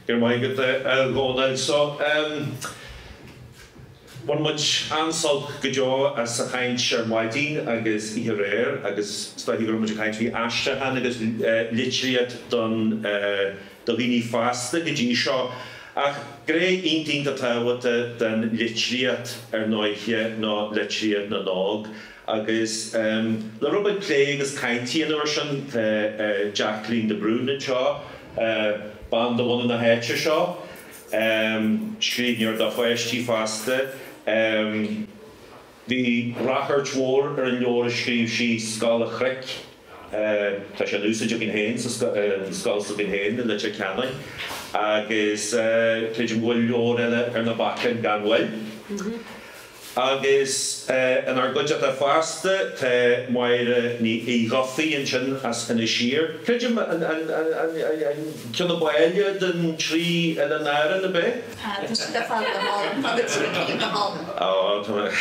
Go raibh maith agat a Dhónail. So, em, bhain muid an-sult go deo as a' chaint ar maidin agus oíche aréir agus is dóichí go raibh muid a' caint faoi aistriúchán agus, eh, litríocht don, eh, do dhaoine fásta go dtí seo ach gné iontach iontach tábhachtach den litríocht ar ndóighe ná litríocht na n-óg Agus le bheith ag plé agus ag caint faoin ábhar sin tá Jacqueline de Brún anseo, bean de bhunadh na háite seo, scríbhneoir do pháistí fosta. Bhí ráchairt mhór ar an leabhar a scríobh sí Scoil an Chnoic. tá sé in úsaid againn féin sa scoil s'againn féin i Leitir Ceanainn agus creidim go bhfuil leabhar eile ar na bacáin gan mhoill agus inár gcuideachta fosta tá Máire Uí Dhufaigh ansin as Inis Oírr, creidim, an ceann ab áille den trí oileán Árann, ab é? Tá siad ar fad go hálainn, tá na trí cinn go hálainn. Tá, tá,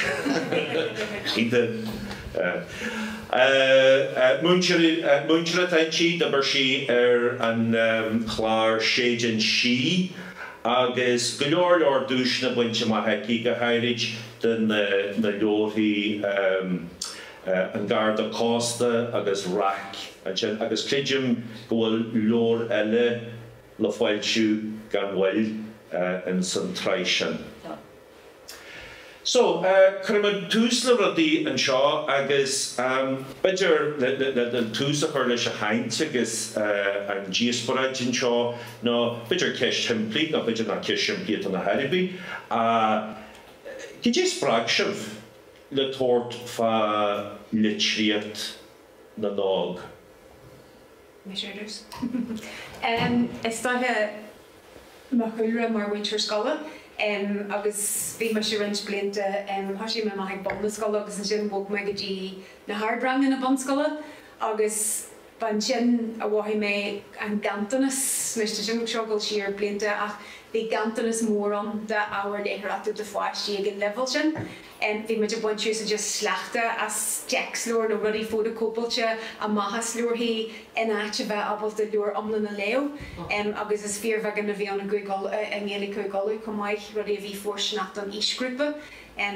cinnte. Múinteoir atá inti, d'oibir sí ar an chlár Séideán Sí agus go leor leor duaiseanna bainte amach aici, go háirid do na leabharthaí An Garda Cósta agus Raic ansin agus creidim go bhfuil leabhar eile le foilsiú gan mhoill in san tsraith sin. So, cuirfimid tús le rudaí anseo agus b'fhéidir le le tús a chur leis an chaint agus an díospóireacht anseo nó b'fhéidir ceist shimplí nó b'fhéidir nach ceist simplí atá ann ar chor ar bith ach cad é a spreag sibh le tabhairt fá litríocht na n-óg? Is dóiche mo chúlra mar mhúinteoir scoile agus bhí mise roinnt blianta, thoisigh mé amach ag bun na scoile agus ansin bhog mé go dtí na hardranganna bunscoile agus ba ansin a mhothaigh mé an ganntanas, anois tá sin ag gabháil siar blianta ach bhí ganntanas mór ann d'ábhar léitheoireachta do pháistí ag an leibhéal sin. Bhí muid ag baint úsáid as sleachta as téacsleabhair nó rudaí fótacóipeáilte amach as leabharthaí in áit a bheith ábalta leabhar iomlán a léamh agus is fíorbheagán a bhí ann i nGaeilge Uladh chomh maith, rudaí a bhí fóirsteanach don aoisghrúpa.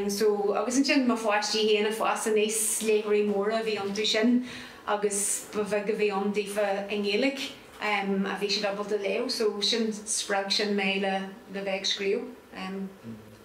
So, agus ansin mo pháistí féin ag fás aníos, léitheoirí móra a bhí iontu sin agus ba bheag a bhí ann daofa i nGaeilge a bhí siad ábalta léamh so sin, spreag sin mé le bheith ag scríobh.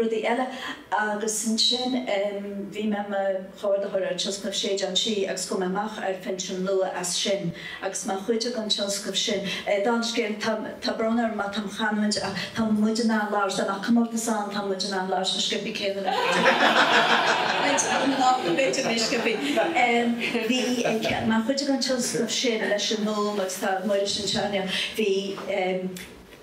rudaí eile agus ansin bhí mé i mo chomhordaitheoir ar thionscnamh Séideán Sí agus chuaigh mé amach ar phinsean luath as sin agus mar chuid den tionscnamh sin, dála scéil, tá, tá brón orm má tá mo chanúint ach tá muid in ann labhairt, dá mbeadh comórtas ann tá muid in ann labhairt chomh sciobtha céanna le muintir na Gaeltachta, b'fhéidir níos sciobtha, bhí, mar chuid den tionscnamh sin leis an nGúm agus tá Muiris anseo inniu, bhí.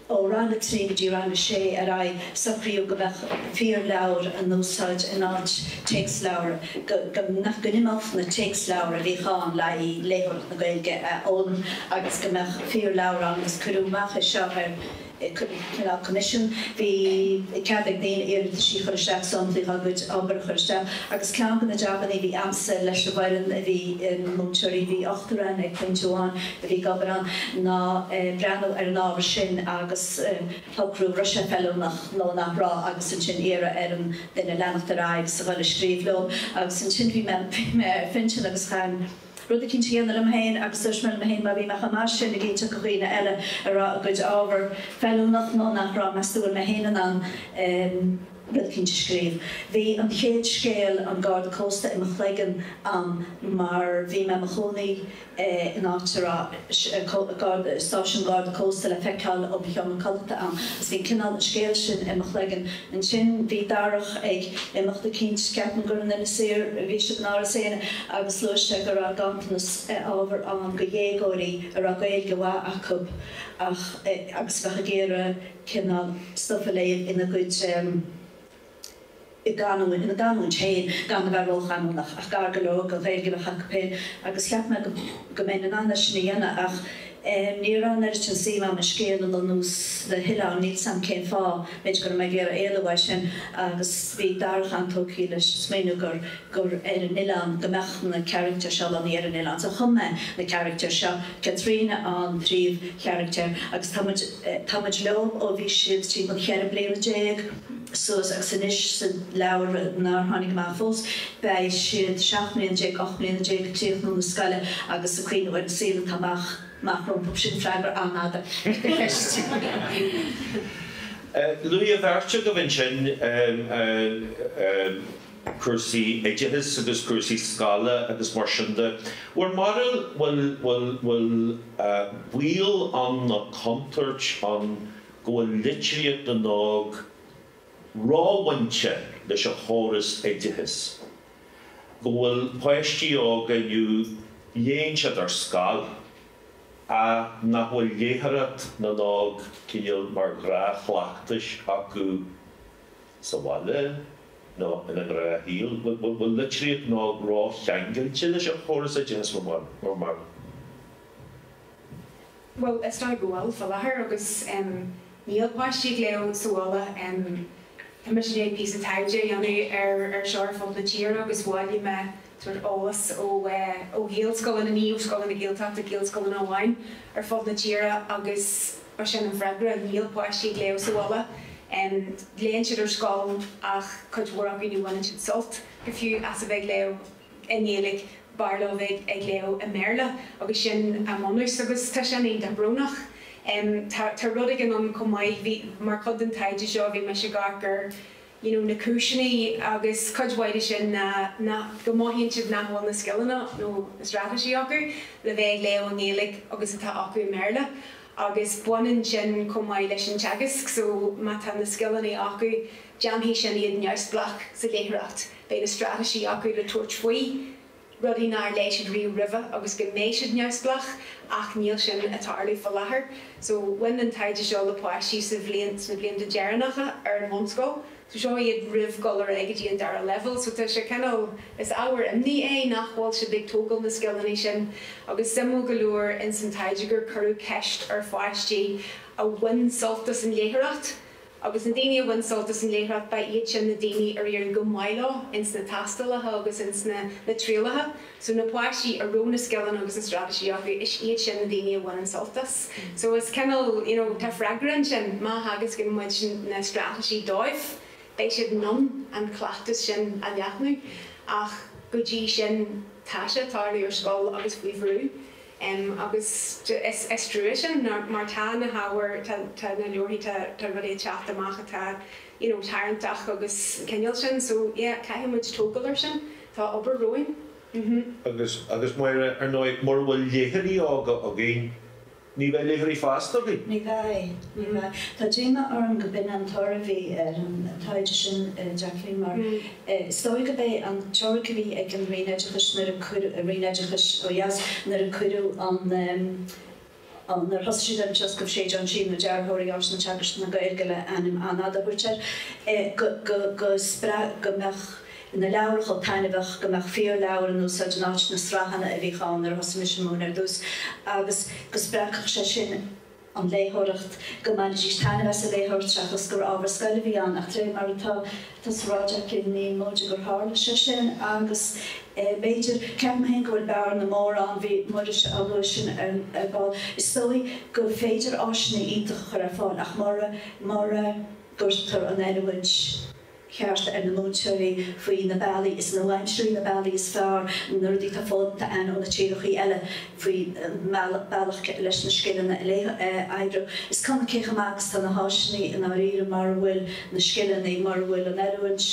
Ó rang a trí go dtí rang a sé ar aghaidh socraíodh go mbeadh fíorleabhair á n-úsáid in áit téacsleabhar, go n-imeodh na téacsleabhair a bhíodh ann le haghaidh léitheoireacht na Gaeilge a fhoghlaim agus go mbeadh fíorleabhair ann agus cuireadh amach é seo ar cineál coimisiún. Bhí cead ag daoine iarratasí a chur isteach, samplaí dá gcuid obair a chur isteach agus ceann de na jabanna a bhí a'msa leis an bhfoireann, a bhí ina múinteoirí, bhí ochtar ann ag pointe amháin, Bhí ag obair ann ná breathnú ar an ábhar sin agus a shocrú an raibh sé feiliúnach nó nach raibh agus ansin iarraidh ar an duine leanacht ar aghaidh is a dhul a scríobh leo agus ansin bhí mé bhí mé ar phinsean agus chaithfinn rud eicínt a dhéanamh liom féin agus dúirt mé liom féin má bhí mé chomh maith sin ag inseacht do dhaoine eile an raibh a gcuid ábhar feiliúnach nó nach raibh meas tú an bhfuil mé féin in ann rud eicínt a scríobh. Bhí an chéad scéal An Garda Cósta i mo chloigeann a'm mar bhí mé i mo chónaí in áit a raibh stáisiún Garda Cósta le feiceáil ó mo sheomra codlata ann agus bhí cineál an scéal sin i mo chloigeann. Ansin bhí Darach ag imeacht eicínt, ceapaim gur in Inis Oírr, bhí siad in Áras Éanna agus luaigh sé go raibh gantanas ábhar ann go dhéagóirí a raibh Gaeilge mhaith acub agus a bheadh ag iarraidh cineál stuif a léamh ina gcuid canúint, ina gcanúint féin, gan a bheith róchanúnach, ach gar go leor don Ghaeilge a bheadh acu féin, agus cheap mé go mbeinn in ann é sin a dhéanamh, ach ní raibh an oiread sin suim agam i scéal a lonnú sna hoileáin, níl 's agam cén fáth, b'fhéidir go raibh mé ag iarraidh éalú as sin, agus bhí Darach an-tógtha leis an smaoineamh gur, gur ar an oileán, go mbeadh na caractair seo lonnaithe ar an oileán, so chum mé na caractair seo, Caitríona an phríomhcharachtar, agus tá muid, tá muid leo ó bhí siad timpeall cheithre bliana déag. suas agus anois sa leabhar nár tháinig amach fós, beidh siad seacht mbliana déag, ocht mbliana déag ag críochnú na scoile agus ag cuimhniú ar an saol atá amach rompu. Sin freagra an-fhada ar do cheist. Luaigh an bheirt agaibh ansin cúrsaí oideachais agus cúrsaí scoile agus mar sin de. Bhur mbarúil, bhfuil, bhfuil, bhfuil baol ann nó contúirt ann go bhfuil litríocht na n-óg róbhainte leis an chóras oideachais, go bhfuil páistí óga inniu léann siad ar scoil ach nach bhfuil léitheoireacht na n-óg cineál mar ghnáthchleachtais acu sa bhaile nó ina ngnáthshaol, go bhfuil litríocht na n-óg rócheangailte leis an chóras oideachais mar mar. Bhuel, is dóigh go bhfuil, fá láthair, agus níl páistí ag léamh sa bhaile. Tá mise i ndiaidh píosa taighde a dhéanamh ar ar seo ar fud na tíre agus bhailigh mé sórt eolas ó ó Ghaelscoileanna, ní ó scoileanna Gaeltachta, Gaelscoileanna amháin ar fud na tíre agus ba sin an freagra, níl páistí ag léamh sa bhaile. Léann siad ar scoil ach cuid mhór acu ní bhaineann siad sult go fiú as a bheith ag léamh. i nGaeilge, b'fhearr leo bheith ag léamh i mBéarla agus sin a mbunús agus tá sin iontach brónach. Tá tá rud éigin ann chomh maith, bhí, mar chuid den taighde seo bhí mise ag cur you know na cúiseanna agus cuid mhaith de sin ná nach, go mothaíonn siad nach bhfuil na scileanna nó na straitéisí acu le bheith ag léamh i nGaeilge agus atá acu i mBéarla agus baineann sin chomh maith leis an teagasc so má tá na scileanna acu déanfaidh sin iad neamhspleách sa léitheoireacht. Beidh na straitéisí acu le tabhairt faoi, rudaí nár léigh siad riamh roimhe agus go mbeidh siad neamhspleách ach níl sin ag tarlú faoi láthair. So bhain an taighde seo le páistí sa bhliain, sna blianta deireanacha ar an bhunscoil. So seo iad roimh dhul ar aghaidh go dtí an dara leibhéal. So tá sé cineál, is ábhar imní é nach bhfuil siad ag tógáil na scileanna sin agus suimiúil go leor ins an taighde gur cuireadh ceist ar pháistí a bhain sult as an léitheoireacht, Agus na daoine a bhain sult as an léitheoireacht, ba iad sin na daoine ar éirigh go maith leo ins na tástálacha agus ins na na trialacha. So na páistí a raibh na scileanna agus na straitéisí acu, is iad sin na daoine a bhaineann sult as. So is cineál, you know, tá freagra ansin, má theagascann muid na straitéisí dóibh, beidh siad in ann an cleachtas sin a leathnú. Ach go dtí sin, tá sé ag tarlú ar scoil agus faoi bhrú. em agus is is trua sin mar tá na hábhair tá tá na leabharthaí tá tá rudaí ag teacht amach atá you know tarraingteach agus an cineál sin so yeah caithfidh muid tógáil air sin tá obair romhainn mh-hmm. agus agus Máire ar ndóigh mura bhfuil léitheoirí óga againn ní bheidh léitheoirí fásta againn. Ní bheidh, ní bheidh. Tá díoma orm go b'in an toradh a bhí ar an taighde sin a Jacqueline mar Is dóigh go b'é an teoiric a bhí ag an Roinn Oideachais nuair a cuireadh, Roinn Oideachais ó dheas, nuair a cuireadh an, an, nuair a thosaigh siad ar an tionscnamh Séideán Sí nó Dearthóirí Áiseanna Teagaisc na Gaeilge le ainm an-fhada a thabhairt air, go, go, go spreag, go mbeadh na leabhair chomh taitneamhach, go mbeadh fíorleabhair in úsáid in áit na sraitheanna a bhíodh ann nuair a thosaigh mise ag múineadh ar dtús agus go spreagfadh sé sin, an léitheoireacht, go mbainfidís taitneamh as an léitheoireacht seachas gur ábhar scoile a bhí ann ach de réir mar atá tú ag rá ní móide gur tharla sé sin agus b'fhéidir, ceapaim féin go bhfuil bearna mór ann, bhí muid á lua sin ar ball, is dóigh gur féidir áiseanna iontacha a chur ar fáil ach mura gcuirtear an oiliúint. cheart ar na múinteoirí faoi na bealaí is nua-aimsirí, na bealaí is fearr, na rudaí atá foghlamtha againn ó na tíreachaí eile faoi bhealach leis na scileanna a aistriú. Is cuma cé chomh maith agus tá na háiseanna i ndáiríre mura bhfuil na scileanna, mura bhfuil an oiliúint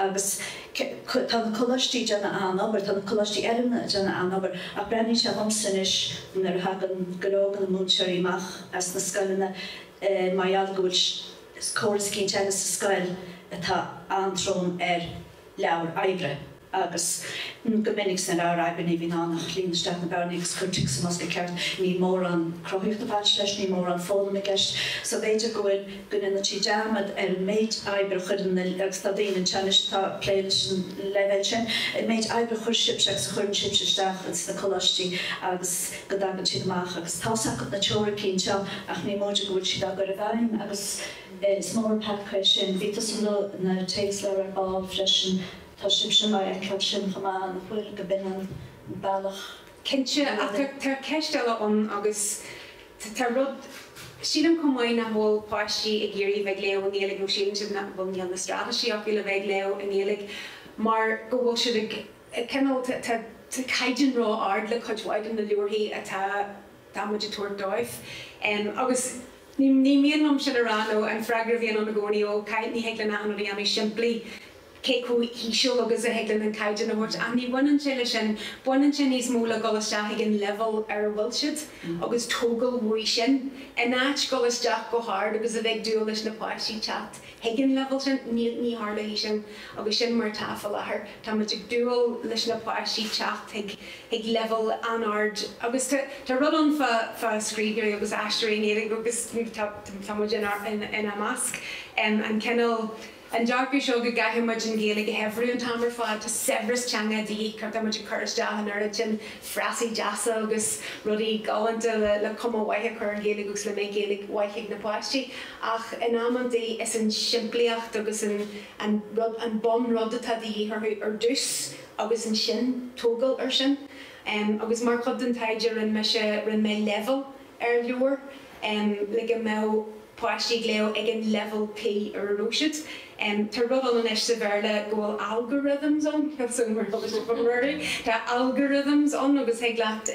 agus tá na coláistí ag déanamh an-obair, tá na coláistí oiliúna ag déanamh an-obair ach breathnaíonn sé dhomsa anois nuair a thagann go leor de na múinteoirí amach as na scoileanna mar gheall go bhfuil córas cinn teanga sa scoil atá an-trom ar leabhair oibre agus go minic sna leabhair oibre ní bhíonn ann ach líon isteach na bearnaí agus cuir tic sa mbosca ceart. Níl mórán cruthaíocht ag baint leis, níl mórán foghlaim i gceist so b'fhéidir go bhfuil go ndéanann siad dearmad ar an méid oibre a chuireann na, agus tá daoine anseo anois atá ag plé leis an leibhéal sin, an méid oibre a chuir sibhse agus a chuireann sibhse isteach ins na coláistí agus. go dtagann siad amach agus tá's acu na teoiricí anseo ach ní móide go bhfuil siad á gcur i bhfeidhm agus is mór an peaca é sin. Bhí tusa ag lua na téacsleabhair ar ball freisin. Tá sibhse ag feiceáil sin chomh maith nach bhfuil? Go b'shin an bealach. Cinnte, ach tá ceist eile ann agus tarlaíonn rud, sílim chomh maith nach bhfuil páistí ag iarraidh bheith ag léamh i nGaeilge nó síleann siad nach bhfuil, níl na straitéisí acu le bheith ag léamh i nGaeilge mar go bhfuil siad ag. eh cineál tá, tá, tá caighdeán ró ard le cuid mhaith de na leabharthaí atá, atá muid a' tabhairt dóibh. Em agus ní, ní mian liom sin a rá nó an freagra a bhíonn ann i gcónaí ó caith, ní thig linn achan rud a dhéanamh simplí cé chomh híseal agus a thig linn an caighdeán a thabhairt ach ní bhaineann sé le sin, baineann sé níos mó le dhul isteach ag an leibhéal ar a bhfuil siad agus tógáil uaidh sin in áit dhul isteach go hard agus a bheith ag dúil leis na páistí teacht chuig an leibhéal sin ní tharlóidh sin agus sin mar atá faoi láthair. Tá muid ag dúil leis na páistí teacht chuig leibhéal an-ard agus tá rud ann fá scríbhneoirí agus aistritheoirí i nGaeilge agus tá muid inár measc. An cineál, an dearcadh seo go gcaithfidh muid an Ghaeilge a shaibhriú an t-am ar fad, tá saibhreas teanga de dhíth, tá muid ag cur isteach an oiread sin frasaí deasa agus rudaí galánta le cuma mhaith a chur ar an Ghaeilge agus le go mbeidh Gaeilge mhaith ag na páistí. ach in amantaí is an simplíocht agus an an rud an bun rud atá de dhíth orthu ar dtús agus ansin tógáil ar sin agus mar chuid den taighde rinne mise rinne mé leibhéalú ar leabhar le go mbeadh páistí ag léamh ag an leibhéal tí ar a raibh siad. Tá rud ann anois sa Bhéarla go bhfuil algorithms ann tá algorithms ann agus thig leat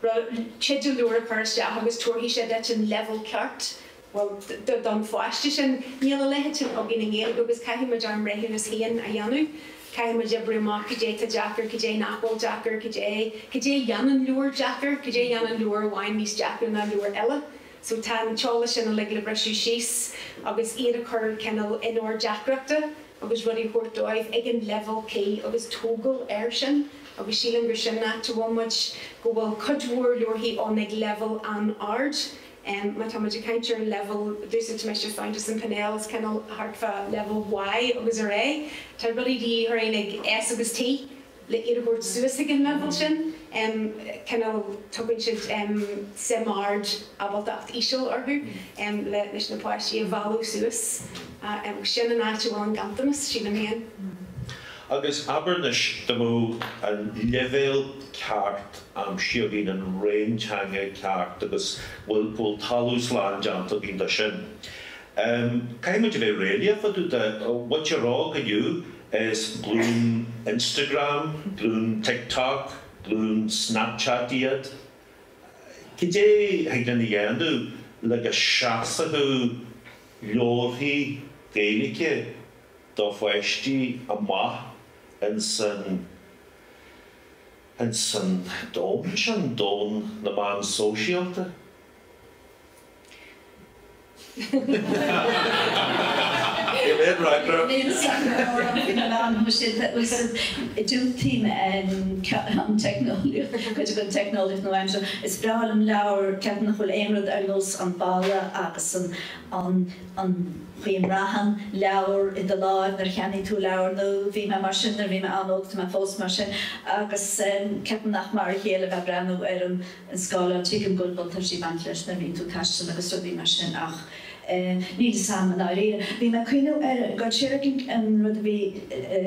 ra teideal leabhair a chur isteach agus tabharfaidh sé duit an leibheal ceart, bhuel, don pháiste sin. Níl a leithéid sin againn i nGaeilge agus caithfidh muid ár mbreithiúnas féin a dhéanamh. Caithfidh muid oibriú amach cad é tá deacair, cad é nach bhfuil deacair, cad é, cad é a dhéanann leabhar deacair, cad é a dhéanann leabhar amháin níos deacra ná leabhar eile. So tá an t-eolas sin uilig le briseadh síos agus iad a chur cineál in ord deacrachta agus rudaí a thabhairt dóibh ag an leibhéal cuí agus tógáil air sin agus sílim gur sin áit a bhfuil muid, go bhfuil cuid mhór leabharthaí ann ag leibhéal an-ard. Má tá muid ag caint ar an leibhéal, d'úsáid mise Fountas and Pinnell, is cineál thart fá leibhéal Y agus ar aghaidh, tá rudaí de dhíth orainn ag S agus T. le iad a thabhairt suas ag an leibhéal sin. cineál tugann siad suim ard ábaltacht íseal orthu le leis na páistí a mhealladh suas. Sin an áit a bhfuil an ganntanas, sílim féin. Agus abair anois, dá mbeadh an leibhéal ceart aimsithe againn, an réim teanga ceart agus bhfuil talamh slán déanta againn de sin, Um, caithfidh muid a bheith réalaíoch fá dtaobh de, a rá gur you know is glún Instagram, glún TikTok, glún Snapchat iad. Cad é a thig linn a dhéanamh le go seasfadh leabharthaí Gaeilge do pháistí amach ins an, ins an domhan sin, domhan na meán sóisialta? Diúltaím cuid den teicneolaíocht nua-aimseartha. Is breá liom leabhair ceapaim nach bhfuil aon rud ar nós an boladh agus an chaoi a mbraitheann leabhair i do láimh nuair a cheannaíonn tú leabhar nua. Bhí mé mar sin nuair a bhí mé an-óg, tá mé fós mar sin, agus ceapaim nach mar a chéile a bheith ag breathnú ar an an scáileán. Tuigim go bhfuil buntáistí ag baint leis nuair a mbíonn tú ag taisteal agus rudaí mar sin ach níl a fhios agam i ndáiríre. Bhí mé ag cuimhneamh ar go dtuigeann an rud a bhí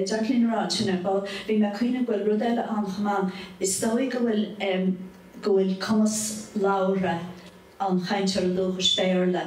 Jacqueline a rá ansin ar ball, bhí mé ag cuimhneamh go bhfuil rud eile ann chomh maith, is dóigh go bhfuil go bhfuil cumas labhartha an chainteora dúchais Béarla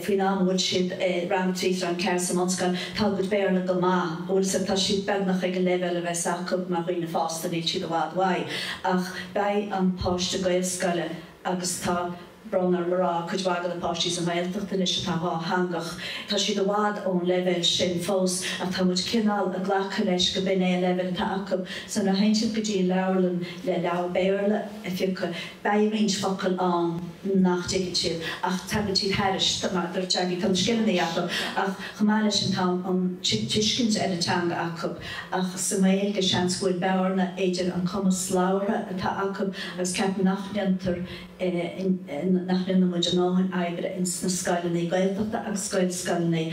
faoin am a bhfuil siad i rang a trí is rang a ceathair sa mbunscoil, tá a gcuid Béarla go maith, an bhfuil a fhios agat, tá siad beagnach ag an leibhéal a bheas acu mar dhaoine fásta, níl siad i bhfad uaidh ach. Beidh an páiste Gaelscoile agus tá brón orm a rá, cuid mhaith de na páistí sa nGaeltacht anois atá dhá theangach. Tá siad i bhfad ón leibhéal sin fós ach tá muid cineál ag glacadh leis go b'in é an leibhéal atá acu. So nuair a théann tú go dtí an leabharlann le leabhar Béarla a phiocadh, beidh roinnt focal ann nach dtuigeann siad ach tagann siad thairis mar a dúirt Jackie, tá na scileanna acu ach chomh maith le sin tá an tuiscint ar an teanga acu. Ach sa nGaeilge, seans go bhfuil bearna idir an cumas labhartha atá acu agus ceapaim nach ndéantar nach ndéanann muid a ndóthain oibre ins na scoileannaí Gaeltachta agus Gaelscoileannaí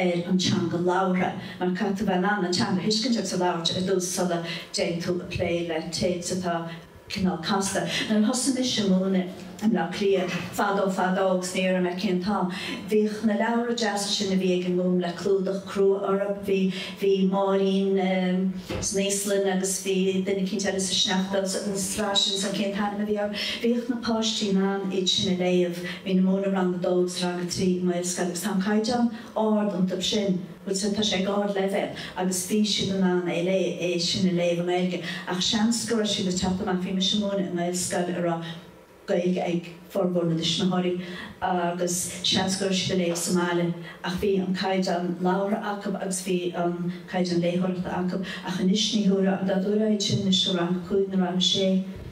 ar an teanga labhartha mar caithfidh tú bheith in ann an teanga a thuiscint agus a labhairt ar dtús sula dtéigh tú a plé le téacs atá cineál casta. Nuair a thosaigh mise ag múineadh i mBleá Cliath, fadó fadó agus ní déarfaidh mé cén t-am, bhíodh na leabhra deasa sin a bhí ag an nGúm le clúdach crua orthu, bhí, bhí Máirín san Íoslainn agus bhí duine eicínt eile sa sneachta agus an tsraith sin, cén t-ainm a bhí orthu? Bhíodh na páistí in ann iad sin a léamh, bhí mé ag múineadh rang a dó agus rang a trí i nGaelscoil agus tá an caighdeán ard iontu sin. Bhuel, sea, tá sé ag ardleibhéal agus bhí siad in ann é lé, é sin a léamh i nGaeilge, ach seans go raibh siad ag teacht amach, bhí mise ag múineadh i nGaelscoil a raibh Gaeilge ag formhór na dtuismitheoirí agus seans go raibh siad ag léamh sa mbaile, ach bhí an caighdeán labhartha acu agus bhí an caighdeán léitheoireachta acu, ach anois ní thiúrfá, an dtabharfá iad sin anois le rang a cúig nó rang a sé.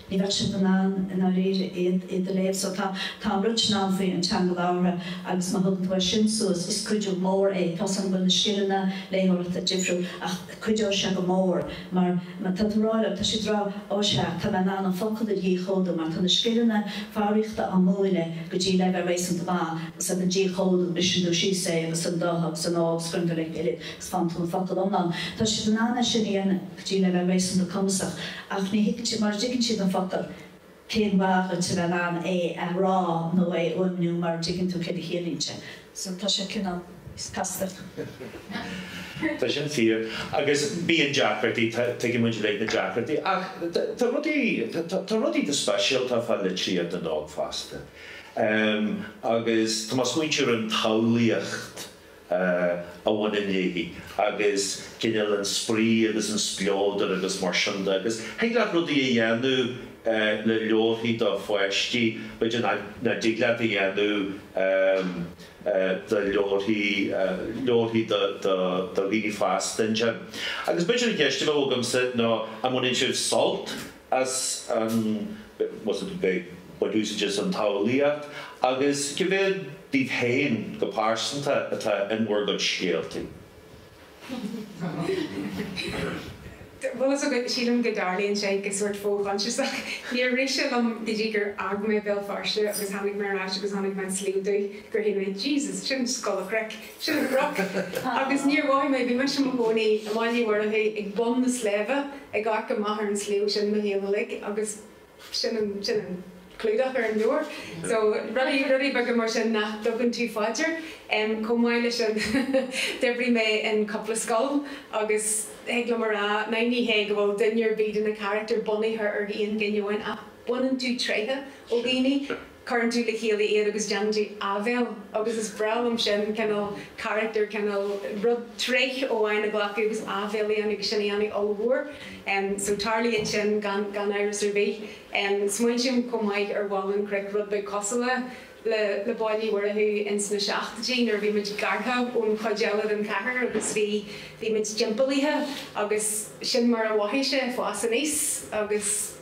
Ní bheadh siad in ann i ndáiríre iad iad a léamh so tá tá an rud sin ann faoi an teanga labhartha agus má thugann tú é sin suas is cuidiú mór é tá 's agam go bhfuil na scileanna léitheoireachta difriúil ach cuideoidh sé go mór mar mar tá tú rá leo tá siad rá ó sea tá mé in ann an focal a dhíchódú mar tá na scileanna foghraíochta á múineadh go dtí leibhéal réasúnta maith agus go dtí an díchódú briseann tú síos é agus an do agus an ó agus cuireann tú le chéile agus fághann tú an focal iomlán tá siad in ann é sin a dhéanamh. Go dtí leibhéal réasúnta cumasach ach ní thuigeann siad, mar a dtuigeann siad an focal, cén mhaith dhuit a bheith in ann é a rá nó é a fhuaimniú mar a dtuigeann tú céard a chiallaíonn sé. So tá sé cineál casta. Tá sin fíor. Agus bíonn deacrachtaí, tuigeann muid uilig na deacrachtaí. Ach tá rudaí, tá rudaí go speisialta fá litríocht na n-óg fosta. Agus tá mé ag smaointiú ar an tsamhlaíocht. a bhaineann léi agus cineál an spraoi agus an spleodar agus mar sin de agus thig leat rudaí a dhéanamh le leabharthaí do pháistí b'fhéidir nach nach dtig leat a dhéanamh do leabharthaí leabharthaí do do do dhaoine fásta ansin agus b'fhéidir an cheist a bheadh agamsa ná an mbaineann sibh sult as a bheith ag baint úsáid as an tsamhlaíocht agus cá mhéad díbh féin go pearsanta atá in bhur gcuid scéaltaí. Sílim go dtarlaíonn sé go sórt fo-choinsiasach. Níor rith sé liom go dtí gur fhág mé Béal Feirste agus tháinig mé ar ais agus tháinig mé an Sliabh Dubh gur shíl mé, Jesus, sin scoil a chraic! Sin cnoc. Agus níor mhothaigh mé, bhí mise i mo chónaí i mBaile Uí Mhurchú ag bun an tsléibhe ag amharc amach ar an sliabh sin mo shaol uilig agus sin an, sin an clúdach ar an leabhar. So rudaí, rudaí beaga mar sin nach dtugann tú fá dear. Em, chomh maith leis sin d'oibrigh mé in cúpla scoil agus thig liom a rá, now ní hé go bhfuil duine ar bith de na carachtair bunaithe ar aon duine amháin ach baineann tú tréithe ó dhaoine. Cuireann tú le chéile iad agus déanann tú áibhéil agus is breá liom sin, cineál carachtar, cineál rud, tréith amháin a ghlacadh agus áibhéil a dhéanamh agus sin a dhéanamh ollmhór. So tarlaíonn sin gan, gan amhras ar bith. Smaointím chomh maith ar Bhaile na Críche rud beag cosúil le, le, le Baile Uí Mhurchú ins na seachtóidí nuair a bhí muid gearrtha ón chuid eile den chathair agus bhí, bhí muid timpeallaithe agus sin mar a mhothaigh sé, ag fás aníos agus.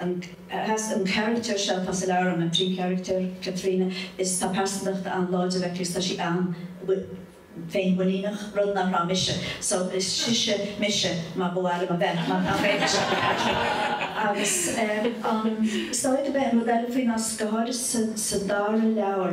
an carachtar seo atá sa leabhar an an príomhcharachtar, Caitríona, is tá pearsantacht an-láidir aici is tá sí an-féinmhuiníneach, rud nach raibh mise so is sise mise mar ba mhaith liom a bheith mar nach raibh mise aici agus an staid a bheith an rud eile faoi ná go háirithe sa dara leabhar.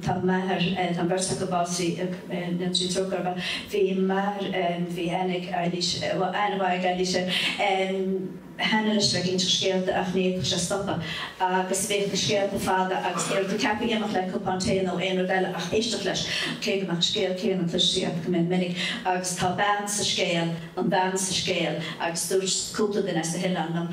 tá m'athair eh, tá an beirt acu básaithe eh, go ndéana Dia trócaire orthu, bhí m'athair em, bhí an-mhaith, eh, bhuel, an-mhaith leis eh, em, an-mhaith leis bheith ag inseacht scéalta ach ní fhéadfadh sé stopadh agus bhíodh na scéalta fada agus ní raibh tú ceaptha amach le cupán tae nó aon rud eile ach éisteacht leis, cé go mbeadh an scéal céanna cloiste agat go mion minic agus tá bean sa scéal, an bean sa scéal agus dúirt cúpla duine as na hoileáin liom,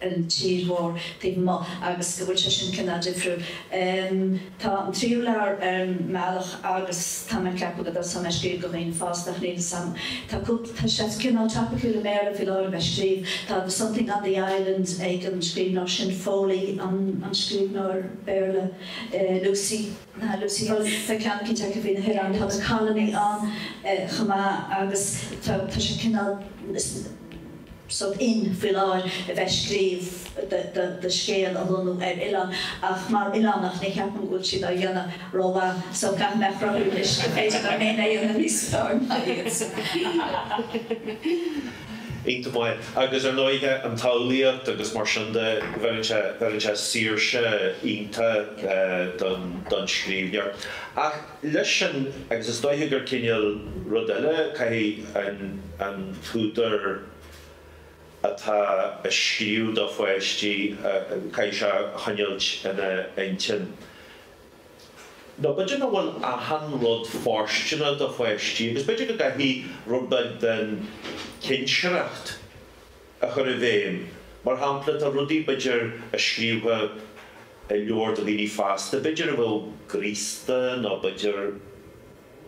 ar an tír mhór taobh amuigh agus go bhfuil sé sin cineál difriúil. Tá an tríú leabhar ar an mbealach agus tá mé ag ceapadh go dtosóidh mé ag scríobh do dhaoine fásta ach níl 'fhios a'm. Tá cúpla, tá sé cineál topiciúil i mBéarla faoi láthair a bheith ag scríobh. Tá The Something on the Island ag an scríbhneoir sin, Foley an scríbhneoir Béarla, Lucy. nó Lucy Hulme, tá ceann eicínt acu faoi na hOileáin, tá The Colony ann chomh maith agus tá sé cineál sórt in faoi láthair a bheith ag scríobh do scéal a lonnú ar oileán ach mar oileánach ní cheapaim go bhfuil siad á dhéanamh rómhaith so caithfidh mé a chruthú anois go mb'fhéidir liom féin a dhéanamh níos fearr ná iad. iontach maith agus ar ndóighe an tsamhlaíocht agus mar sin de bheir sé bheir sé saoirse iontach don don scríbhneoir. Ach leis sin agus is dóiche gur cineál rud eile caithfidh an an t-údar atá a scríobh do pháistí caithfidh sé a choinneáilt ina intinn. Nó b'fhéidir nach bhfuil achan rud fóirsteanach do pháistí agus b'fhéidir go gcaithfidh rud beag den chinsireacht a chur i bhfeidhm. Mar shampla, tá rudaí b'fhéidir a scríobhfá i leabhar do dhaoine fásta b'fhéidir a bheadh graosta nó b'fhéidir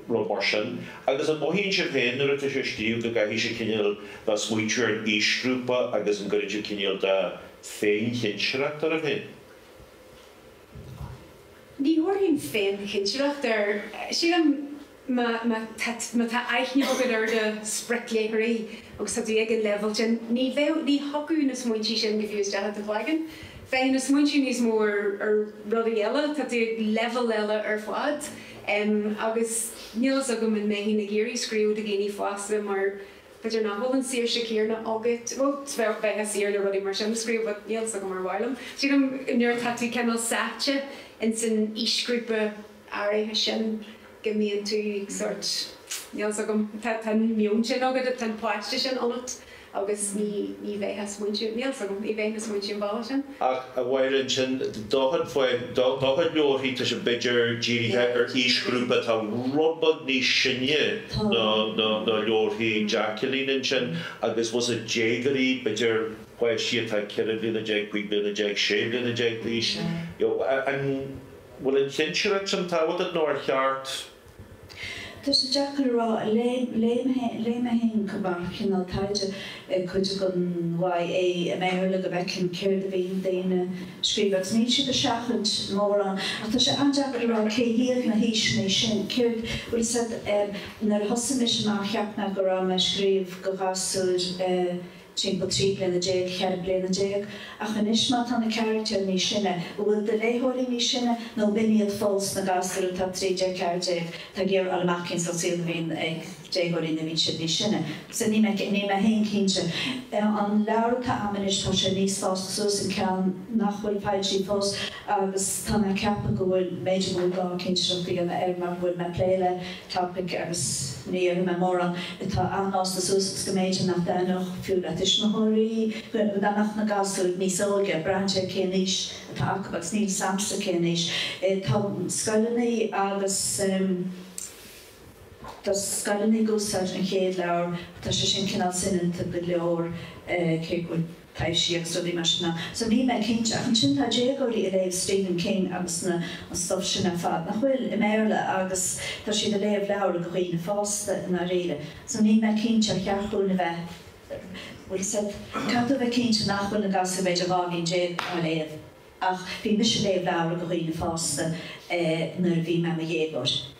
rud mar sin. Agus an mothaíonn sibh féin nuair atá sibh ag scríobh go gcaithfidh sibh cinéal bheith smaointiú ar an aoisghrúpa agus an gcuireann sibh cinéal de féin-chinsireacht oraibh féin? Ní thabharfainn féin-chinsireacht air. Sílim má tá aithne agat ar do spriocléitheoirí agus tá tú ag an leibhéal sin, ní bheadh, ní thiocfadh na smaointí sin go fiú isteach i do chloigeann. Bheadh na smaointí níos mó ar rudaí eile, tá tú ag leibhéal eile ar fad. Agus níl fhios agam an mbeinn ag iarraidh scríobh do dhaoine fásta mar B'fhéidir nach bhfuil an saoirse céarna agat. Bhuel, bheifeá saor le rudaí mar sin a scríobh but níl 's agam ar mhaith liom. Sílim nuair atá tú cineál sáite ins an aoisghrúpa áirithe sin go mbíonn tú sórt, níl 's agam, tá tá an meon sin agat, tá an páiste sin ionat agus ní ní bheifeá ag smaointiú, níl 's agam, ní bheifeá ag smaointiú an bealach sin. Ach a Mháire ansin do chuid leabharthaí tá sé b'fhéidir dírithe ar aoisghrúpa atá rud beag níos sine ná leabharthaí Jacqueline ansin agus was it déagóirí b'fhéidir páistí atá ceithre bliana déag, cúig bliana déag, sé bliana déag d'aois. An bhfuil an chinsireacht sin tábhachtach nó ar cheart Tá sé deacair a rá. Léigh mé féin mar chineál taighde cuid den YA i mBéarla, go bhfeicfinn céard a bhí daoine a scríobh agus níl siad ag seachaint mórán. Ach tá sé an-deacair a rá cé hiad na haoiseanna sin, céard, bhfuil 's a'd. Nuair a thosaigh mise amach cheap mé go raibh mé ag scríobh do ghasúir, timpeall 13 bliana, 14 bliana, ach anois má tá na carachtair níos sine, an bhfuil do léitheoirí níos sine nó ab in iad fós na gasúir atá 13, 14, atá ag iarraidh fháil amach cén sórt saol a bhíonn ag déagóirí nuair a bhíonn siad níos sine. So níl mé, níl mé féin cinnte. An leabhar atá a'm anois tá sé níos fásta suas an ceann nach bhfuil foilsithe fós agus tá mé ag ceapadh go bhfuil b'fhéidir go bhfuil gá cinsireacht a dhéanamh air mar go bhfuil mé ag plé le topic agus ní déarfaidh mé mórán atá an-fhásta suas agus go mb'fhéidir nach dtaitneodh fiú le tuismitheoirí go dá mbeadh na gasúir níos óige, braitheann sé cén aois atá acu agus níl 's agamsa cén aois tá scoileannaí agus tá scoileannaí ag úsáid an chéad leabhar ach tá sé sin cineál soineanta go leor cé go bhfuil. taibhsí agus rudaí mar sin ann so níl mé cinnte ach ansin tá déagóirí a' léamh Stephen King agus na, an stuff sin ar fad, nach bhfuil, i mBéarla agus tá siad a' léamh leabhra dho dhaoine fásta i ndáiríre so níl mé cinnte ar cheart dhúinn a bheith, bhuel caithfidh tú a bheith cinnte nach bhfuil na gasúir b'fhéidir dhá bhliain déag á léamh ach bhí mise a' léamh leabhra dho dhaoine fásta eh nuair a bhí mé i mo dhéagóir.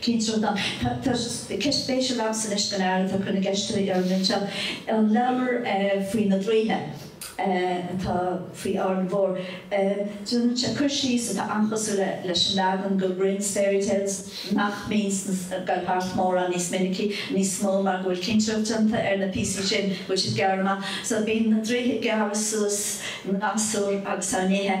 cén sórt am? Tá ceist spéisiúil agamsa anois don fhear atá ag cur na gceisteannaí orm anseo. An leabhar faoi na draoithe atá faoi Árainn Mhór, déanann sé cur síos atá an-chosúil leis an leagan dho Grimms Fairy Tales nach mbíonn ag goil thart mórán níos minicí, níos mó mar go bhfuil cinsireacht déanta ar na píosaí sin go bhfuil siad gearrtha amach. So bíonn na draoithe ag gearradh suas na ngasúr agus á n-ithe.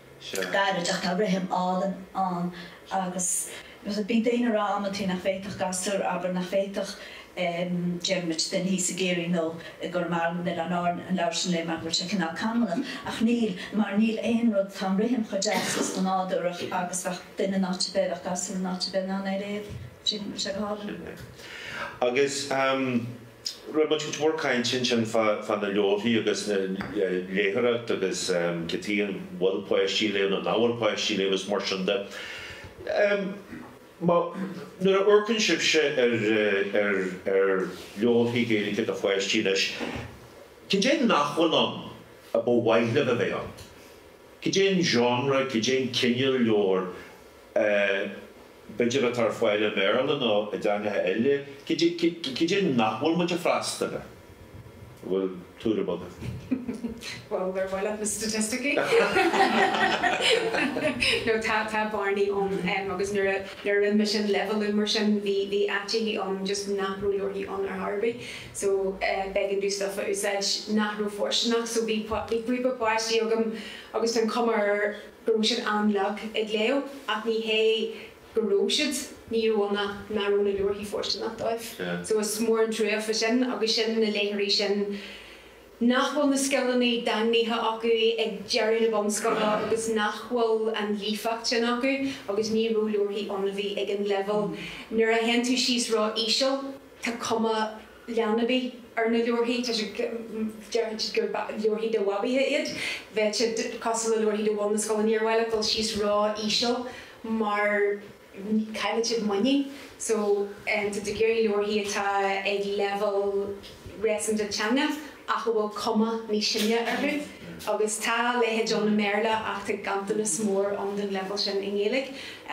gairid ach tá rithim álainn ann agus bíonn daoine ag rá amantaí nach bhféadfadh gasúr, abair, nach bhféadfadh Diarmuid Dennehy i gCiarraí nó i gConamara nó in Oileáin Árann an leabhar sin a léamh mar go bhfuil sé cineál canúnach ach níl mar níl aon rud, tá an rithim chomh deas is chomh nádúrach agus bheadh duine in áit ar bith, bheadh gasúr in áit ar bith in ann é a léamh, bhfuil sé go hálainn. Agus. Rinne muid cuid mhór cainte ansin fá na leabharthaí agus an léitheoireacht agus cé acu an bhfuil páistí a léamh nó nach bhfuil páistí a léamh agus mar sin de. Nuair a amharcann sibhse ar ar ar leabharthaí Gaeilge de pháistí anois, cad é nach bhfuil ann ar mhaith libh a bheith ann? Cad é an genre, cad é an cineál leabhar b'fhéidir atá ar fáil i mBéarla nó i dteangacha eile, cad é nach bhfuil muid ag freastal air? An bhfuil tuairim agaibh? Bhuel, ar mhaith leat na staitisticí? No, tá bearnaí ann agus nuair a rinne mise an leibhéalú mar sin bhí áiteachaí ann just nach raibh leabharthaí ann ar chor ar bith so b'éigean dom stuff a úsáid nach raibh fóirsteanach so bhí píosa páistí agam agus tá an chuma air go raibh siad an-lag ag léamh ach ní hé go raibh siad, ní raibh ann ach nach raibh na leabharthaí fóirsteanach dóibh so is mór an truaighe sin agus sin na léitheoirí sin nach bhfuil na scileannaí daingnithe acu ag deireadh na bunscoile agus nach bhfuil an líofacht sin acu agus ní raibh leabharthaí ann a bhí ag an leibhéal, nuair a théann tú síos ró-íseal tá cuma. leanbaí ar na leabharthaí. Tá siad, déarfaidh siad gur leabharthaí de bhabaí iad. Bheadh siad cosúil le leabharthaí de bhun na scoile, níor mhaith leat dul síos ró íseal mar caillfidh siad muinín. So, tá siad ag iarraidh leabharthaí atá ag leibhéal réasúnta teanga. ach a bhfuil cuma níos sine orthu agus tá a leithéid ann i mBéarla ach tá ganntanas mór ann den leibhéal sin i nGaeilge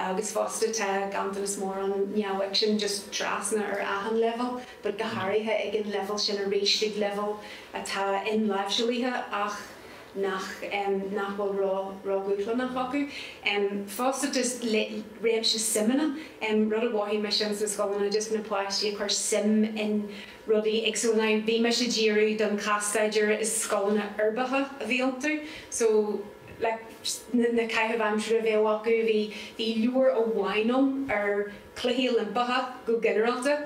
agus fosta tá ganntanas mór ann neamhfhicsean just trasna ar achan leibhéal but go háirithe ag an leibhéal sin arís ag leibhéal atá inláimhseáilaithe ach nach nach bhfuil ró ró dhúshlánach acu. Fosta just réimse suimeanna rud a mhothaigh mise ins na scoileanna just na páistí ag cur suim in rudaí ag so now bhí mise ag díriú don chás-staidéar, is scoileanna uirbeacha a bhí iontu so na caitheamh aimsire a bheadh acu bhí bhí leabhar amháin ann ar Chluichí Oilimpeacha go ginearálta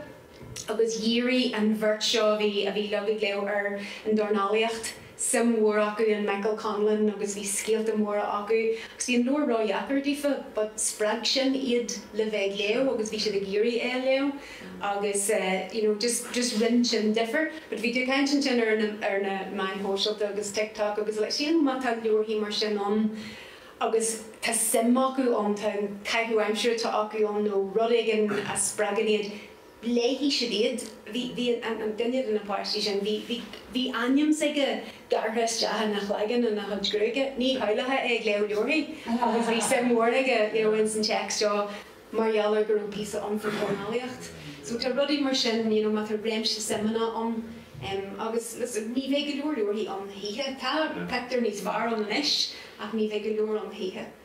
agus dhírigh an bheirt seo a bhí ag léamh ar an dornálaíocht suim mhór acu in Michael Conlan agus bhí scéalta móra acu agus bhí an leabhar ródheacair daofa but spreag sin iad le bheith ag léamh agus bhí siad ag iarraidh é a léamh agus eh you know just just rinn sin difir but bhí tú ag caint ansin ar na ar na meáin shóisialta agus TikTok agus like sílim má tá leabharthaí mar sin ann agus tá suim acu ann tá an caitheamh aimsire atá acu ann nó rud éigin a spreagann iad léifidh siad iad. Bhí, bhí an, an, duine de na páistí sin, bhí, bhí, bhí ainm s'aige gearrtha isteach ina chloigeann, ina chuid gruaige, ní shamhlófá é ag léamh leabharthaí agus bhí suim mhór aige, you know, ins an téacs seo mar gheall ar go raibh píosa ann faoi dhornálaíocht. So tá rudaí mar sin, you know, má tá réimse suimeanna ann em agus listen, ní bheidh go leor leabharthaí ann choíche, tá pictiúir níos fearr ann anois ach ní bheidh go leor ann choíche.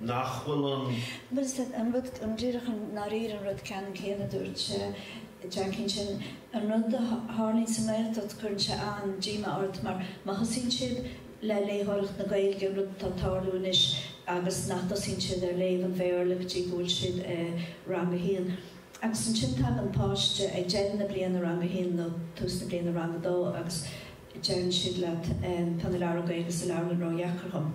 nach bhfuil an. Bhuel, díreach dháiríre an rud ceannann céanna a dúirt Jacqueline, an rud a tharlaíonn sa nGaeltacht, cuireann sé an-díomá ort mar má thosaíonn siad le léitheoireacht na Gaeilge, an rud atá ag tarlú anois, agus nach dtosaíonn siad ar léamh an Bhéarla go dtí go bhfuil siad i rang a haon. Agus ansin tagann páiste ag deireadh na bliana, rang a haon nó tús na bliana, rang a dó, agus deireann siad leat, tá na leabhra Gaeilge sa leabharlann ródheacair dhom.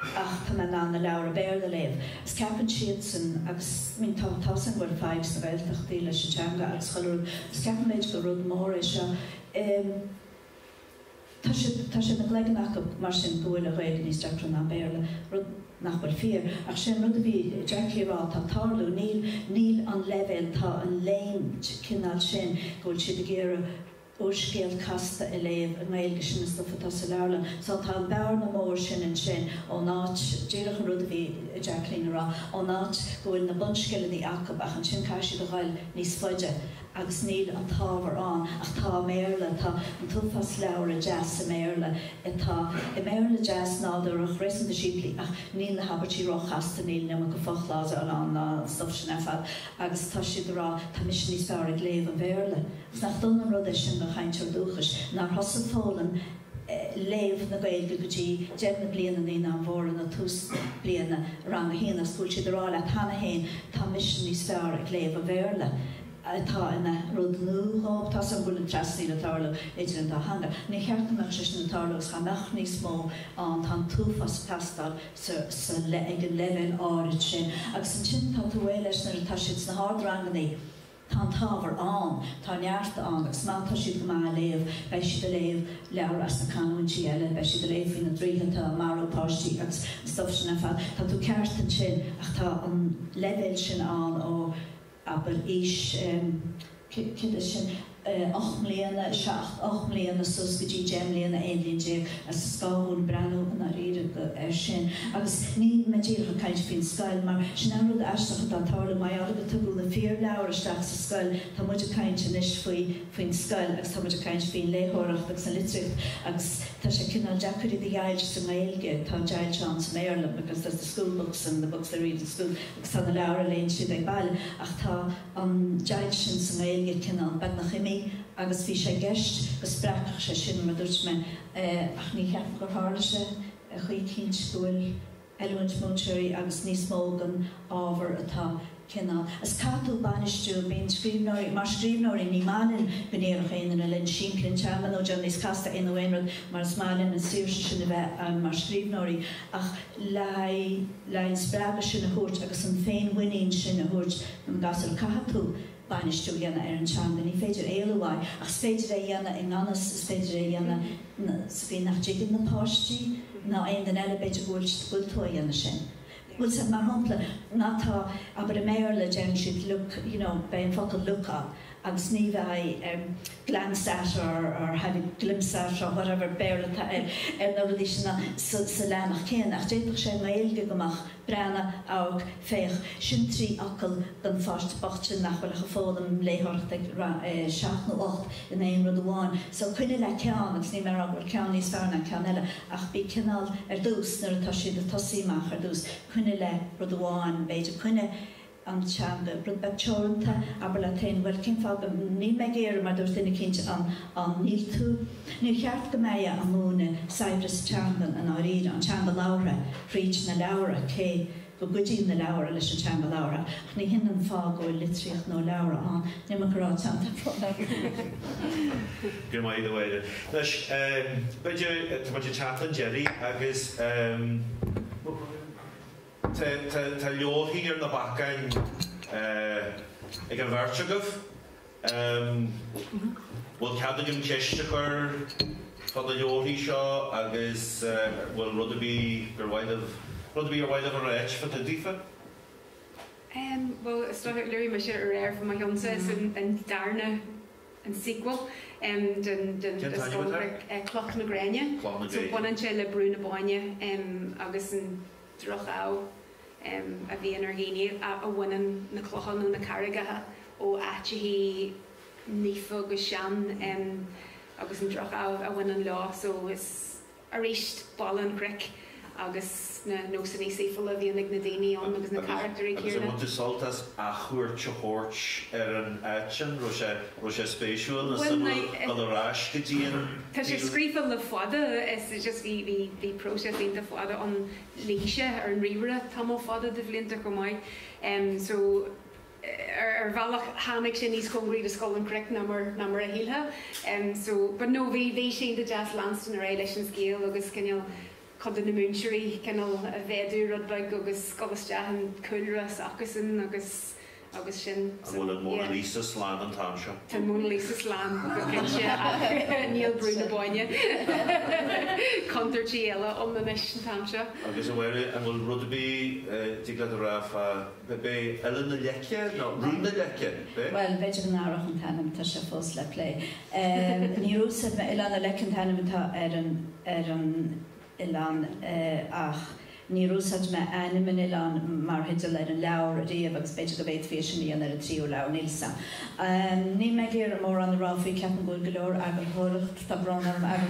ach tá mé in ann na leabhra Béarla a léamh agus ceapann siadsan agus I mean tá a fhios againn go bhfuil fadhb sna Gaeltachtaí leis an teanga agus chuile rud agus ceapann muid gur rud mór é seo em tá sé ina gcloigeann acub mar sin go bhfuil an Ghaeilge níos deacra ná an Béarla rud nach bhfuil fíor ach sin an rud a bhí Jacqueline a rá tá tarlú níl níl an leibhéal tá an léim cineál sin go bhfuil siad ag iarraidh Úrscéal casta a léamh i nGaeilge, sin an stuif atá sa leabharlann. Só, tá an bhearna mhór sin ansin ón áit, díreach an rud a bhí Jacqueline a rá, ón áit go bhfuil na bunscileanna acub ach ansin caithfidh siad a ghoil níos faide agus níl an t-ábhar ann. Ach tá i mBéarla, tá an t-uafás leabhra deas i mBéarla, atá i mBéarla deas, nádúrach, réasúnta simplí ach níl na habairtí róchasta, níl an iomarca fochlásál ann ná an stuif sin ar fad. agus tá siad a rá, tá mise níos fearr ag léamh an Bhéarla, agus nach dona an rud é sin do chainteoir dúchais, nár thosaigh foghlaim léamh na Gaeilge go dtí deireadh na bliana naíonáin mhóra nó tús bliana rang a haon, agus go bhfuil siad a rá leat cheana féin, tá mise níos fearr ag léamh an Bhéarla, atá ina rud nua dhóibh, tá a fhios agam go bhfuil an trasnaíl a tarlú idir an dá theanga. Níor cheart go mbeadh sé sin ag tarlú agus dhá mbeadh níos mó ann, tá an t-uafás ag teastáil, sa le ag an leibhéal áirid sin agus ansin tá tú réidh leis nuair atá siad sna hardrangannaí tá an t-ábhar ann, tá neart ann agus má tá siad go maith a léamh beidh siad a léamh leabhair as na canúintí eile, beidh siad a léamh faoi na draoithe atá a marú páistí agus an stuff sin ar fad, tá tú ceart ansin ach tá an leibhéal sin ann ó abair, aois, céard é sin, ocht mbliana, seacht, ocht mbliana suas go dtí deich mbliana, aon bhliain déag, agus is gá dhúinn breathnú i ndáiríre go, ar sin. Agus níl mé díreach ag caint faoin scoil, mar sin é an rud aisteach atá ag tarlú, mar gheall gur tugadh na fíor-leabhair isteach sa scoil, tá muid ag caint anois faoi, faoin scoil, agus tá muid ag caint faoin léitheoireacht agus an litríocht, agus tá sé cineál deacair iad a dheighilt sa nGaeilge, tá deighilt ann sa mBéarla, because there's the school books and the books they read in school. agus na leabhair a léann siad ag baile ach tá an deighilt sin sa nGaeilge cineál beagnach imithe agus bhí sé i gceist go spreagfadh sé sin mar a dúirt mé ach ní cheapaim gur tharla sé choíchin cinnte go bhfuil oiliúint múinteoirí agus níos mó den ábhar atá cineál is caithfidh tú bainistiú bíonn scríbhneoirí mar scríbhneoirí ní maith linn go ndéarfadh aon duine linn simpligh an teanga nó déan níos casta é nó aon rud mar is maith linn an saoirse sin a bheith ann mar scríbhneoirí ach le haghaidh le haghaidh an spreagadh sin a thabhairt agus an féinmhuinín sin a thabhairt don gasúr. Caithfidh tú bainistiú a dhéanamh ar an teanga, ní féidir éalú uaidh, ach is féidir é a dhéanamh i ngan fhios, is féidir é a dhéanamh sa gcaoi nach dtuigeann na páistí ná aon duine eile, b'fhéidir go bhfuil, go bhfuil tú á dhéanamh sin, bhfuil a fhios agat, mar shampla, má tá, abair i mBéarla deireann siad look, you know, beidh an focal look ann agus ní bheidh. glance at or or have a glimpse at or whatever, Béarla atá air, ar na rudaí sin sa sa leathanach céanna, ach d'fhéadfadh sé i nGaeilge go mbeadh, breathnaigh, amharc, féach, sin trí fhocal don pháiste bocht sin nach bhfuil ach ag foghlaim léitheoireachta ag 7 nó 8 in aon rud amháin. So coinnigh le ceann agus níl mé ag rá go bhfuil ceann níos fearr ná ceann eile ach bí cineál, ar dtús, nuair atá siad ag tosaí amach ar dtús, coinnigh le rud amháin, b'fhéidir coinnigh, an teanga. Rud beag teoranta, abair leat féin, bhuel, cén fáth go, níl mé ag iarraidh, mar dúirt duine eicínt ann, ann, níl tú, níor cheart go mbeifeá a múineadh saibhreas teangan i ndáiríre, an teanga labhartha, fríd na leabhra, cé go gcuidíonn na leabhra leis an teanga labhartha, ach ní shin an fáth go bhfuil litríocht nó leabhra ann, níl mé ag rá teann den fáth labhartha. Go raibh maith agat, a Mháire. Anois, b'fhéidir, tá muid ag teacht chun deiridh agus. Tá leabharthaí ar na bacáin ag an bheirt agaibh. Bhfuil cead agam ceist a chur fá na leabharthaí seo agus an bhfuil rud ar bith gur mhaith libh, rud ar bith ar mhaith libh a rá fá dtaobh daofa? Em, bhuel, is dócha, luaigh mise aréir fá mo cheannsa, so an darna, an sequel, em, den, den, den scannán, eh, Cloch na Gréine. Cloch na Gréine. So baineann sé le Brú na Bóinne, em, agus an. droch-ádh a bhíonn ar dhaoine a bhaineann na clocha nó na carraigeacha ó áiteachaí naofa agus sean agus an droch-ádh a bhaineann leo so is arís Baile an Chnoic agus na nósanna saoifiúla a bhíonn ag na daoine ann agus na carachtair chéanna. Agus ar bhain tú sult as athchuairt a thabhairt ar an áit sin? Raibh sé, raibh sé spéisiúil? Bhuel, a ghabháil ar ais go dtí an. Tá sé scríofa le fada, is just bhí, bhí, bhí próiseas iontach fada ann, luigh sé ar an ríomhaire tamall fada de bhlianta chomh maith. So ar, ar bhealach tháinig sé níos cóngaraí do Scoil an Chnoic ná mar, ná mar a shílfeá. So but no bhí, bhí sé deas leanstan ar aghaidh leis an scéal agus cineál, cuid de na múinteoirí cineál a mhéadú rud beag agus gabháil isteach ina gcúlra s'acusan agus agus sin so yeah. An bhfuil an Mona Lisa slán an t-am seo? Tá an Mona Lisa slán go cinnte ach níl Brú na Bóinne contúirtí eile ann anois an t-am seo. Agus a Mháire an bhfuil rud ar bith a thig leat a rá fá B'é Oileán na Leice nó Rún na Leice, b'é? Bhuel, b'fhéidir go n-athródh an t-ainm, tá sé fós le plé. Níor úsáid mé, Oileán na Leice an t-ainm atá ar an, ar an oileán ach níor úsáid mé ainm an oileáin mar theideal ar an leabhar ariamh agus b'fhéidir go bhféadfaí é sin a dhéanamh ar an tríú leabhar, níl fhios a'm. Níl mé ag iarraidh mórán a rá faoi, ceapaim go bhfuil go leor eagarthóireachta. Tá brón orm, ag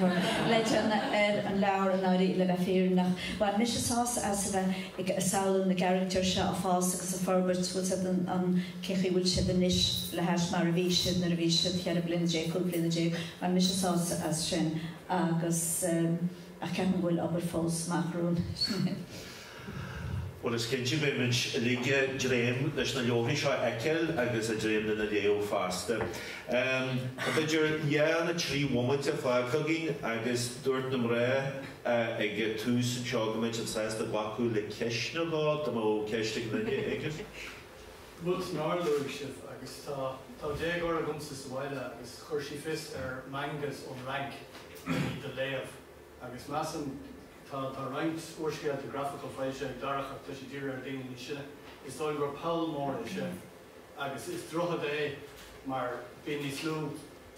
Bridget ar an leabhar, dáiríre, le bheith fírinneach. Bhain mise sásamh as a bheith ag samhlú na gcarachtar seo ag fás agus ag forbairt, bhfuil a fhios agat cé chaoi bhfuil siad anois le hais mar a bhí siad nuair a bhí siad cheithre bliana déag, cúig bliana déag. Bhain mise sásamh as sin agus ach ceapaim go bhfuil obair fós amach romham. Bhuel is cinnte beidh muid uilig a' dréim leis na leabharthaí seo a fheiceáil agus a' dréim lena léamh fosta. Tá b'fhéidir dhá nó trí bhomaite fágtha againn agus dúirt na mná ag a' tús anseo go mbeadh siad sásta glacadh le ceist nó dhó dá mbeadh ceist ag duine éigin. Rud nár luaigh sibh agus tá, tá déagóir agamsa sa bhaile agus chuir sí fios ar mangas ón Fhrainc le iad a léamh. Agus measaim, tá roinnt úrscéalta grafacha foilsithe ag Darach ach tá siad dírithe ar daoine níos sine. Is dóigh liom gur poll mór é sin agus is droichead é mar bíonn níos lú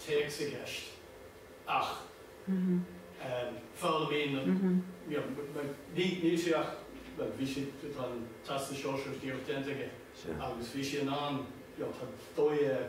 téacs i gceist ach ehm foghlaimíonn an you know ní níl sé ach bhuel bhí sé tá an Teastas Sóisearach díreach déanta aige agus bhí sé in ann you know tá dóigh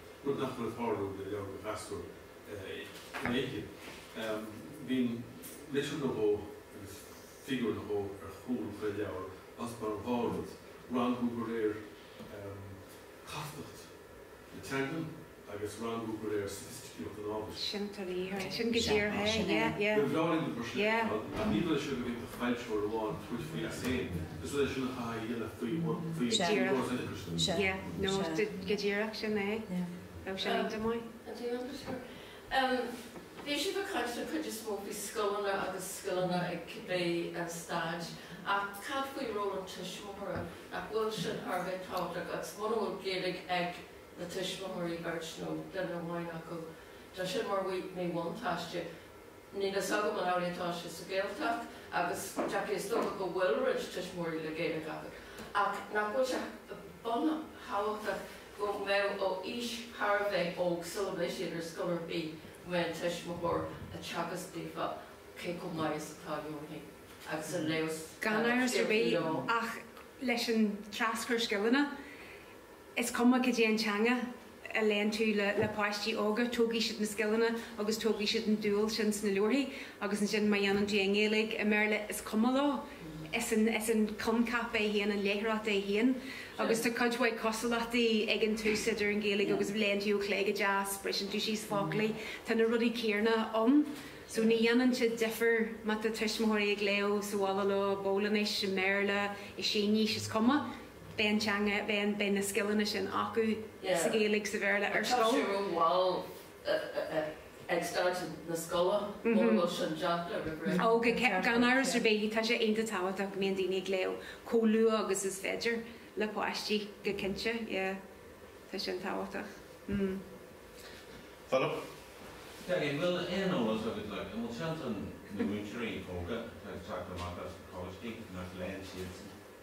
rud nach bhfuil ag tarlú le leabhair do ghasúir i nGaeilge. Bíonn litir nó dhó agus figiúr nó dhó ar chúl chuile leabhar, mar a bheadh, rangú de réir castacht na teanga agus rangú de réir soifisticíocht an ábhair. Sin go díreach é. Ba bhreá linn dá mbeadh sé ar fáil, ach níl sé ag an bhfoilsitheoir amháin tabhairt faoi as féin. Bhí siad ag caint den chuid is mó faoi scoileanna agus scileanna ag cibé stáid ach cad faoi ról an tuismitheora? Nach bhfuil sin thar a bheith tábhachtach agus muna bhfuil Gaeilge ag na tuismitheoirí, beirt nó duine amháin acu, tá sin mar mhíbhuntáiste. Níl fhios agam an amhlaidh atá sé sa Ghaeltacht agus go dearfa is dócha go bhfuil roinnt tuismitheoirí le Gaeilge acu ach nach bhfuil sé buntábhachtach go mbeadh ó aois thar a bheith óg sula mbeidh siad ar scoil ar bith go mbeadh an tuismitheoir ag teagasc daofa cé chomh maith is atá sé a bheith ag léamh Gan amhras ar bith, ach leis an traschur scileanna Is cuma cad é an teanga a léann tú le páistí óga, tógfaidh siad na scileanna agus tógfaidh siad an dúil sin sna leabharthaí agus ansin má dhéanann tú i nGaeilge, i mBéarla, is cuma leo. Is an coincheap é féin, an léitheoireacht é féin agus tá cuid mhaith cosúlachtaí ag an tús idir an Ghaeilge agus, léann tú ó chlé go deas, briseann tú síos foclaí, tá na rudaí céarna ann so ní dhéanann sé difear má tá tuismitheoirí ag léamh sa bhaile leo, i bPólainnis, i mBéarla, i Sínis, is cuma. beidh an teanga, beidh, beidh na scileanna sin acu sa Ghaeilge, sa Bhéarla ar scoil. Tá sé rómhall ag stáid na scoile mura bhfuil sin déanta roimh ré. Ó, gan amhras ar bith, tá sé iontach tábhachtach go mbíonn daoine ag léamh chomh luath agus is féidir le páistí, go cinnte, yeah. Tá sin tábhachtach. Philip? Peigí, an bhfuil aon eolas agat, like, an bhfuil seans ann na múinteoirí óga atá ag teacht amach as na coláistí nach léann siadsan?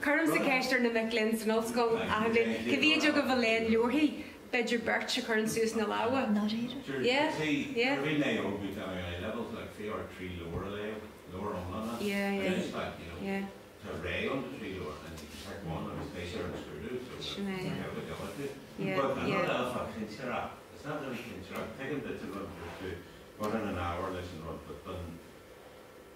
Cuirimse ceist ar na mic léinn san ollscoil achan bhliain, cé mhéid agaibh a léann leabharthaí? B'fhéidir beirt a chuireann suas na lámha.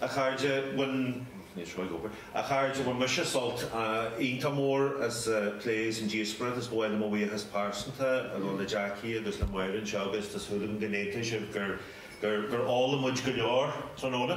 A chairde, bhain mise sult iontach mór as an phlé as an díospóireacht. Is ba mhaith liom mo bhuíochas pearsanta a ghabháil le Jackie agus le Máire anseo agus tá súil agam go n-aontaíonn sibh gur gur fhoghlaim muid go leor tráthnóna.